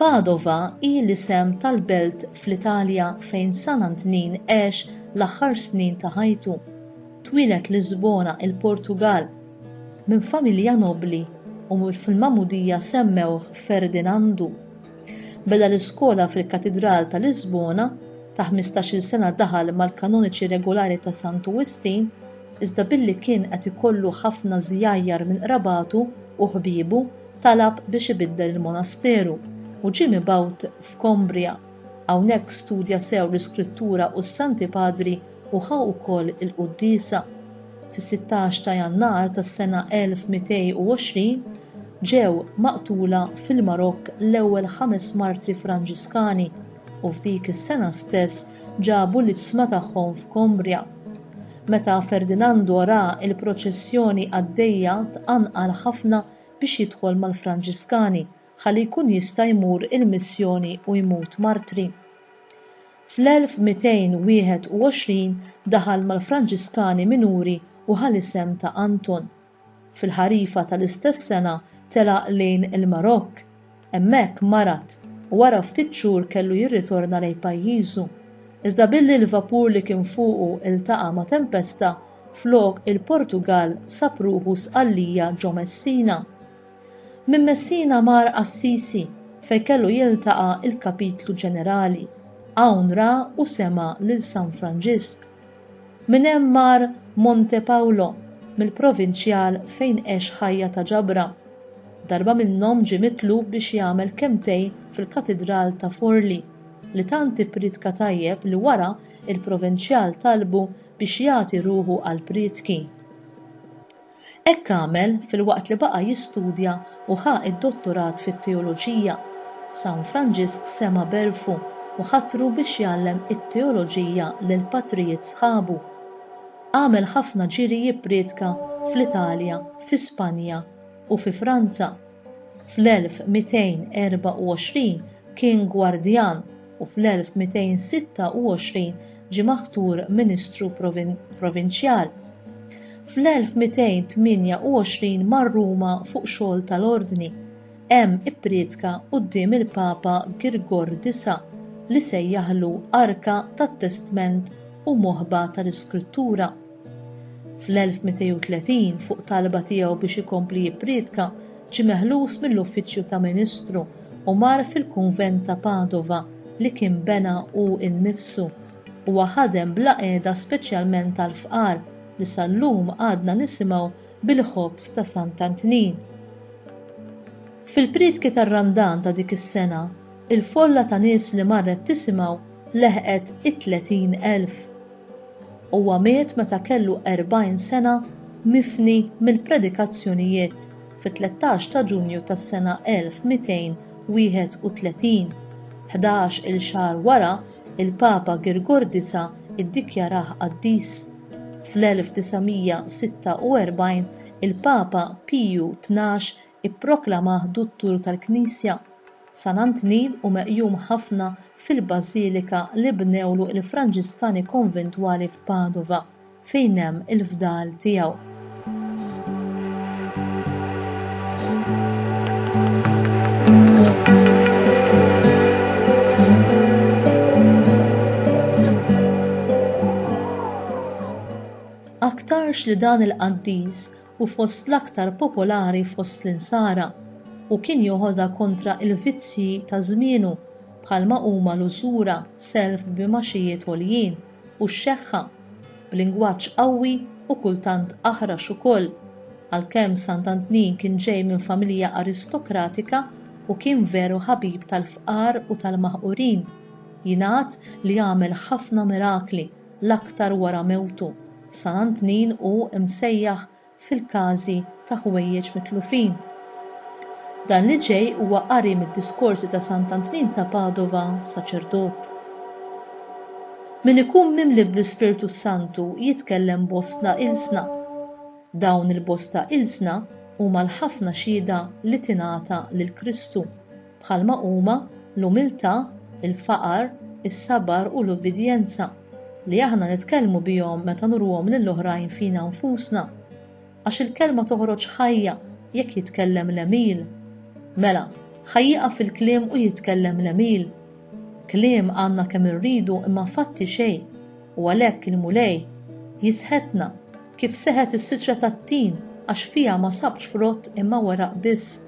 Padova hi l-isem tal-belt fl-Italja fejn San Antnin għex l-aħħar snin ta' ħajtu. Twieled Lisbona, il-Portugall, minn familja nobbli u fil-magħmudija semmewh Ferdinandu. Beda l-iskola fil-Katidral ta' Lisbona, ta' ħmistax-il sena daħal mal-kanoniċi regulari ta' Santu Wistin, iżda billi kien qed ikollu ħafna żjajjar minn qrabatu u ħbiebu, Talab biex ibiddel il-monasteru u ġie mibgħut f'Combria. Hawnhekk studja sew l-Iskrittura u s-Santi Padri u ħa wkoll il-quddiesa. Fis-sittax ta' Jannar tas-sena 1220 ġew maqtula fil-Marokk l-ewwel ħames martri Franġiskani u f'dik is-sena stess ġabu l-iġsma tagħhom f'Combria. Meta Ferdinando ra l-proċessjoni għaddejja tqanqal ħafna biex jidħol mal-Franġiskani ħalli jkun jista' jmur il-missjoni u jmut martri. Fl-1221 daħal mal-Franġiskani Minuri u ħa l-isem ta' Anton. Fil-ħarifa tal-istess sena telaq lejn il-Marokk. Hemmhekk marad u wara ftit xhur kellu jirritorna lejn pajjiżu. Iżda billi l-vapur li kien fuqu ltaqa' ma' tempesta, flok il-Portugall sab ruħu Sqallija ġo Messina. Minn Messina mar Assisi fejn kellu jiltaqa' l-Kapitlu Ġenerali. Hawn ra u sema' lil San Franġisk. Minn hemm mar Montepaolo, mill-provinċjal fejn għex ħajja ta' ġabra. Darba minnhom ġie mitlub biex jagħmel kelmtej fil-Katidral ta' Forli, li tant ippriedka tajjeb li wara il-provinċjal talbu biex jagħti ruħu għall-priedki. Hekk għamel filwaqt li baqa' jistudja u ħa d-dottorat fit-teoloġija. San Franġisk sema' b'għerfu u ħatru biex jgħallem it-teoloġija lil patrijiet sħabu. Għamel ħafna ġiri jipprietka fl-Italja, fi Spanja, u fi Franza. Fl-1224 kien gwardjan. u fl-1226 ġie maħtur ministru provinċjal. Fl-1228 mar Ruma fuq xogħol tal-ordni. Hemm ipprietka quddiem il-Papa Girgor Disa' li sejjaħlu Arka tat-Testment u Moħba tal-Iskrittura. Fl-1230, fuq talba tiegħu biex ikompli jippriedka, ġie meħlus mill-uffiċċju ta' ministru u mar fil-kunvent ta' Padova li kien bena hu nnifsu. Huwa ħadem bla qiegħda speċjalment għall-fqar li sal-lum għadna nisimgħu bil-ħobż ta' Sant'Antnin. Fil-priedki tar-Randan ta' dik is-sena, il-folla ta' nies li marret tisimgħu leħqet it-30 elf. Huwa miet meta kellu 40 sena mifni mill-predikazzjonijiet fit-tlettax ta' Ġunju tas-sena 1231. Ħdax il xahar wara, il-Papa Girgor Disa' iddikjarah qaddis. Fl-1946 il-Papa Piju Tnax Ipproklamah Duttur tal-Knisja, San Antnin u meqjum ħafna fil-bażilika li bnewlu il-Franġiskani konventwali f'Padova, fejn hemm il-fdal tiegħu. Aktarx li dan il-qaddis u fost l-aktar popolari fost l-insara, u kien joħodha kontra il-vizzji ta' żmienu bħalma huma l-użura, self b'imgħaxijiet għoljin, u x-xeħħa, b'lingwaġġ qawwi u kultant aħrax ukoll. Għalkemm Sant'Antnin kien ġej minn familja aristokratika u kien veru ħabib tal-fqar u tal-maħqurin, jingħad li għamel ħafna mirakli, l-aktar wara mewtu, San Antnin hu msejjaħ fil-każi ta' ħwejjeġ mitlufin. Dan li ġej huwa qari mid-diskorsi ta' Sant Antnin ta' Padova, saċerdot. Min ikun mimli bl-Ispirtu s-Santu jitkellem bostna ilsna. Dawn il-bosta ilsna huma l-ħafna xhieda li tingħata lil Kristu. bħalma huma l-umiltà, il-faqar, is-sabar u l-ubbidjenza, li aħna nitkellmu bihom meta nuruhom lil oħrajn fina nfusna. Għax il-kelma toħroġ ħajja jekk jitkellem l-għemil. Mela, ħa jieqaf il-kliem u jitkellem l-għemil. Kliem għandna kemm irridu imma fatti xejn. u għalhekk il-Mulej jisħetna kif seħet is-siġra tat-tin għax fiha ma sabx frott imma weraq biss.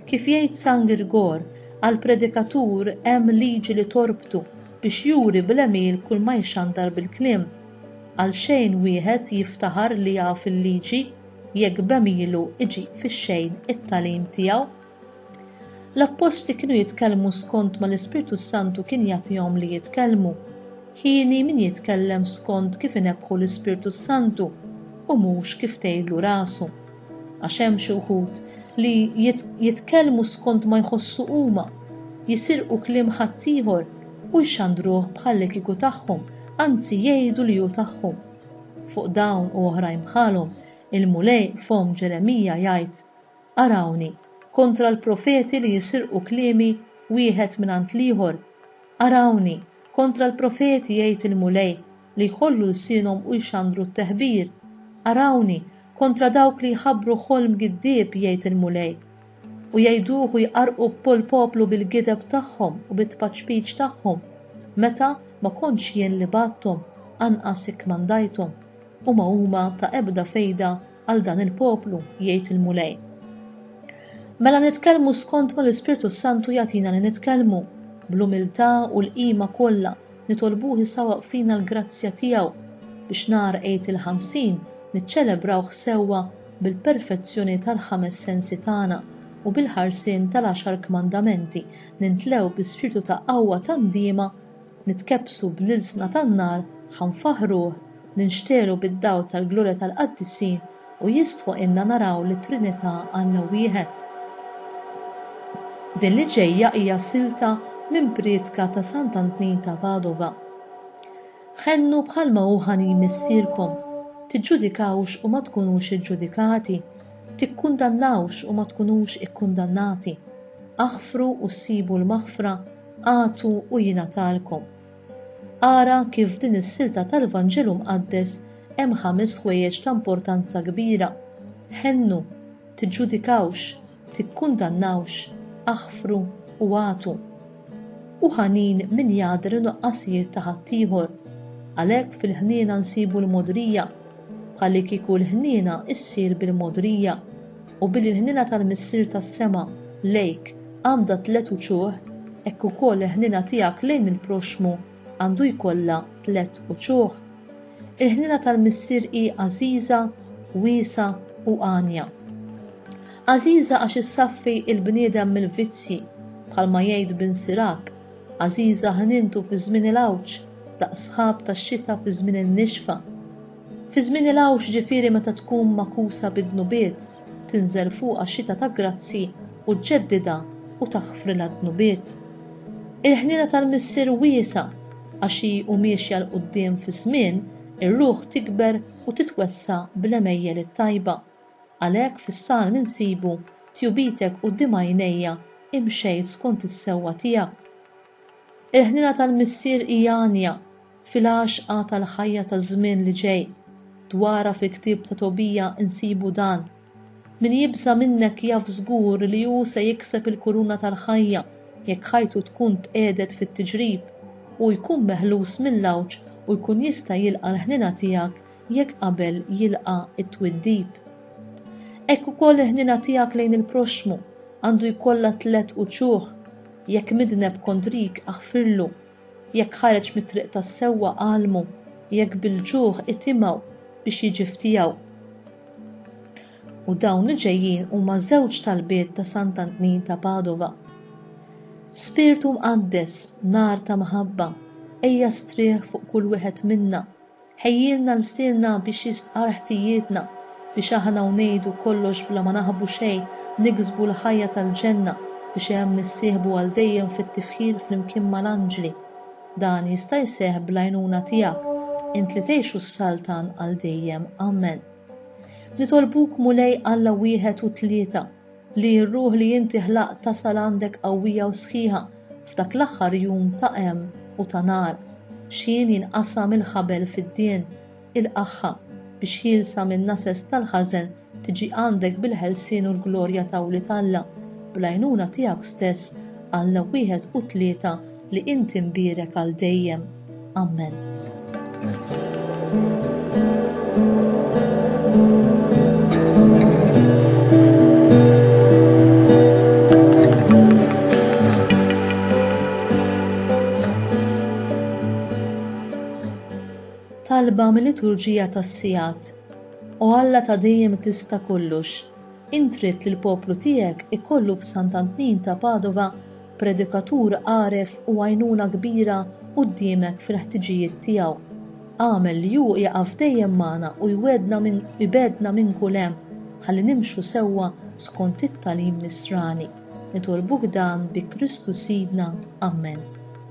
Kif jgħid San Girgor, għall-predikatur hemm liġi li torbtu biex juri bl-għemil kull ma jxandar bil-kliem. Għalxejn wieħed jiftaħar li jaf il-liġi jekk b'għemilu jġib fix-xejn it-tagħlim tiegħu. L-appostli kienu jitkellmu skont ma l-Ispirtu s-Santu kien jagħtihom li jitkellmu. Hieni min jitkellem skont kif inebbħu l-Ispirtu s-Santu u mhux kif tgħidlu rasu. Għax hemm xi wħud li jitkellmu skont ma jħossu huma, jisirqu kliem ħaddieħor u jxandruh bħallikieku tagħhom, anzi jgħidu li hu tagħhom. Fuq dawn u oħrajn bħalhom, il-Mulej f'fomm Ġeremija jgħid, Arawni, kontra l-profeti li jisirqu kliemi wieħed mingħand l-ieħor. Arawni, kontra l-profeti, jgħid il-Mulej, li jħollu lsienhom u jxandru t-teħbir. Arawni, kontra dawk li jħabbru ħolm giddieb, jgħid il-Mulej, u jgħiduh u jqarrqu bpol-poplu bil-gideb tagħhom u bit-tpaċpiċ tagħhom, meta ma kontx jien li bgħatthom, anqas ikkmandajthom, u ma huma ta' ebda fejda għal dan il-poplu, jgħid il-Mulej. Mela nitkellmu skont ma l-Ispirtu s-Santu jagħtina li nitkellmu, bl-umiltà u l-qima kollha nitolbuh isawwaq fina l-grazzja tiegħu biex nhar Għid il-Ħamsin niċċelebrawh sewwa bil-perfezzjoni tal-ħames sensi tagħna u bil-ħarsien tal-għaxar kmandamenti nintlew bi spirtu ta' qawwa tandiema nitkebbsu bl-ilsna tan-nar, ħa nfaħħruh, ninxtegħlu bid-dawl tal-glorja tal-qaddisin u jistħoqilna naraw lit-Trinità Alla wieħed. Din li ġejja hija silta minn prietka ta' Sant Antnin ta' Padova. Ħennu bħalma hu ħanin Missierkom, tiġġudikawx u ma tkunux iġġudikati, tikkundannawx u ma tkunux ikkundannati, aħfru u ssibu l-maħfra, Agħtu u jingħatalkom. Ara kif f'din is-silta tal-Vanġelu Mqaddes hemm ħames ħwejjeġ ta' importanza kbira, ħennu, tiġġudikawx, tikkundannawx, aħfru u agħtu. Hu ħanin min jgħaddi n-nuqqasijiet ta' ħaddieħor. Għalhekk fil-ħniena nsibu l-mogħdrija, bħallikieku l-ħniena ssir bil-mogħdrija. u billi l-ħniena tal-Missier tas-sema lejk għandha tliet uċuħ, hekk ukoll il-ħniena tiegħek lejn il-proxxmu għandu jkollha tliet uċuħ. Il-ħniena tal-Missier hi għażiża, wiesgħa u għanja. Għażiża għax issaffi l-bniedem mill-vizzji, bħalma jgħid Bin Sirak, għażiża ħnientu fi żmien il-għawġ, daqs sħab tax-xita fi żmien in-nixfa. Fi żmien il-għawġ ġifieri meta tkun magħkusa bid-dnubiet, tinżel fuqha xita ta' grazzji u ġġeddidha u taħfrilha d-dnubiet. Il-ħniena tal-Missier wiesgħa għax hi u miexja 'l quddiem fiż-żmien, ir-ruħ tikber u titwessa' bl-għemejjel it-tajba. Għalhekk fis-Salm insibu, Tjubitek quddiem għajnejja, imxejt skont is-sewwa tiegħek. Il-ħniena tal-Missier hija għanja fil-għaxqa tal-ħajja taż-żmien li ġej. Dwarha fil-ktieb ta' Tobija nsibu dan, Min jibża' minnek jaf żgur li hu se jikseb il-kuruna tal-ħajja jekk ħajtu tkun tqiegħdet fit-tiġrib, hu jkun meħlus mill-għawġ u jkun jista' jilqa' l-ħniena tiegħek jekk qabel jilqa' t-twiddib. Hekk ukoll il-ħniena tiegħek lejn il-proxxmu għandu jkollha tliet uċuħ. Jekk midneb kontrik, aħfirlu, jekk ħareġ mit-triq tas-sewwa, għallmu, jekk bil-ġuħ, itimgħu biex jiġi f'tiegħu. U dawn li ġejjin huma żewġ talbiet ta' Sant'Antnin ta' Padova. Spirtu Mqaddes, nar ta' mħabba, ejja strieħ fuq kull wieħed minna, Ħejjilna lsienna biex jistqarr ħtijietna, biex aħna u ngħidu kollox bla ma naħbu xejn niksbu l-ħajja tal-ġenna biex hemm nissieħbu għal dejjem fit-tifħir flimkien mal-anġli. Dan jista' jseħħ bl-għajnuna tiegħek, int li tgħix u ssaltan għal dejjem. Amen. Nitolbuk Mulej Alla wieħed u tlieta. Li r-ruħ li inti ħlaqt tasal għandek qawwija u sħiħa f'dak l-aħħar jum ta' għem u ta' nar, x'ħin jinqasam il-ħabel fid-dien, il-qaħħa, biex ħielsa min-nases tal-ħażen tiġi għandek bil-ħelsien u l-glorja ta' wlied Alla, bl-għajnuna tiegħek stess, Alla wieħed u tlieta li inti mbierek għal dejjem. Amen. talba mill-liturġija tas-sigħat. O Alla ta' dejjem tista' kollux, intrid li l-poplu tiegħek ikollu f'Sant'Antnin ta' Padova Predikatur għaref u għajnuna kbira quddiemek fil-ħtiġijiet tiegħu. Agħmel li hu jaqaf dejjem magħna u jwegħdna minn u jbegħdna minn kull hemm ħalli nimxu sewwa skont it-tagħlim Nisrani. Nitolbuk dan bi Kristu Sidna. Ammen.